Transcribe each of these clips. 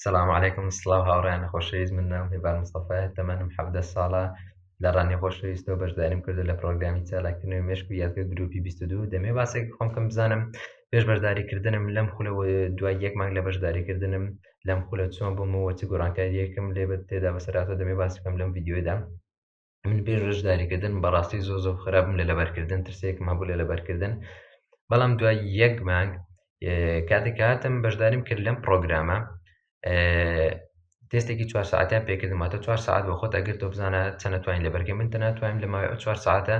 سلام علیکم سڵاو هاوڕیان خۆشەویست من نام هێبار مستەفایە تەمەنم حەڤدە ساڵە لە ڕانی خۆشەویستەوە بەشداریم کردو لە پرۆگرامی چالاکردنەوەی مێشک و یادگە گروپی 22 دەمێ باسێک خۆم کەم بزانم پێش بەشداریکردنم لەم خولەوە دوای یەک مانگ لە بەشداریکردنم لەم خولە چۆن بوومەوە چ گۆڕانکاریەکم لێ بە تێدا بەسەراتۆ دەمێ باس بکەم لەم ڤیددیودا من پێش ڕژداریکردن بەڕاستی زۆ زۆ خراپم لە لەبەرکردن ترسێکم هەبوو لە لەبەرکردن بەڵام دوای یەک مانگ کاتێک هاتم بەشداریم کرد لەم پرۆگرامە تێستێکی چوار ساعتیان پێکردماتە چوار ساعت بۆ خۆت ئەگرتۆ بزانە چەنەتوانین لەبەرگە من تەناتوانم لە ماوەی چوار ساعتە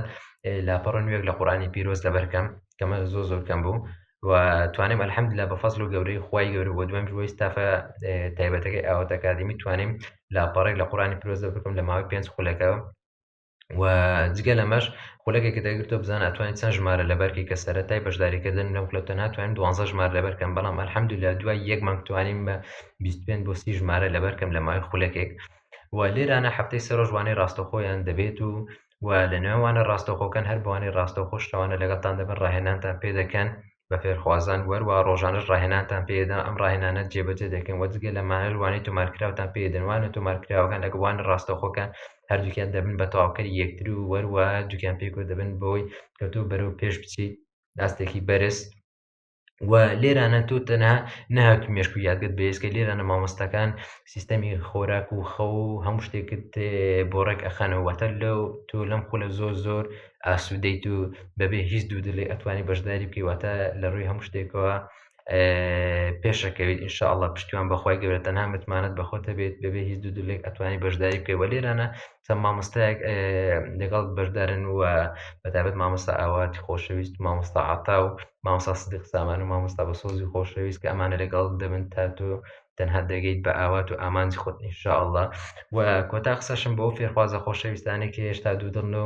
لاپەڕ نوێک لە قورانی پیرۆز لەبەرکەم کەمە زۆ زۆرکەم بوو و توانیم الحمدلله بە فەزل و گەورەی خوای گەورە بۆ دوێم ژوەی ستافە تایبەتەکەی ئاوات ئەکادمی توانیم لاپەڕێک لە قورانی پیرۆزە بکەم لە ماوەی پێنج خولەکە و جگە لەمەش خولەکێکە دەگرتۆ بزان ئەتوانین چەند ژمارە لەبەرکی کە سەرەتای بەشداریکردن لەم کلۆتە ناتوانین دوانزە ژمار لەبەرکەم بەڵام الحمدلله دوای یەک مانگ توانیم بە 25 بۆ سی ژمارە لەبەرکەم لە ماوەی خولەکێک و لێرانە هەفتەی سەرۆژوانەی ڕاستەخۆیان دەبێت و و لە نێوانە ڕاستەوخۆکان هەر بەوانەی ڕاستەوخۆ شتەوانە لەگەڵتان دەبن ڕاهێنانتان پێ دەکەن بە فێرخوازان و هەروە ڕۆژانەش ڕاهێنانتان پێ دەدەن ئەم ڕاهێنانە جێبەجێ دەکەن و جگە لەمانەش وانەی تۆمارکراوتان پێ دەدەن وانە تۆمارکراوەکان لەگەڵ وانە ڕاستەوخۆکان هەردووکیان دەبن بە تەواوکەری یەکتر و هەروە دووکیان پێکەوە دەبن بەوەی کە تۆ بەرەو پێش بچیت ئاستێکی بەرز و لێرانە تۆ تەنها نەهات مێشک و یادگەت بەێسکە لێرانە مامۆستەکان سیستەمی خۆراک و خەو و هەموو شتێکت بۆ ڕێک ئەخەنەوەتە لەو تۆ لەم خولە زۆر زۆر ئاسوودەیت و بەبێ هیچ دوو دلێ ئەتوانی بەشداری بکەیواتە لە ڕووی هەموو شتێکەوە پێشەکەویت انشاءله پشتیوان بەخوای گەورە تەنها متمانەت بەخۆتە بێت بەبێ هیچ دوو دلێک ئەتوانی بەشداری بکەی وە لێرانە چەند مامۆستایەک لەگەڵ بەشدارن و بەتابەت مامۆستا ئاواتی خۆشەویست مامۆستا عتا و مامۆستا سدیق سامان و مامۆستا بە سۆزی خۆشەویست کە ئەمانە لەگەڵ دەبن تا تۆ تەنها دەگەیت بە ئاوات و ئامانجی خۆت ئینشاءله و کۆتا قسەشم بۆ فێرخوازە خۆشەویستانێک هێشتا دوو دڵن و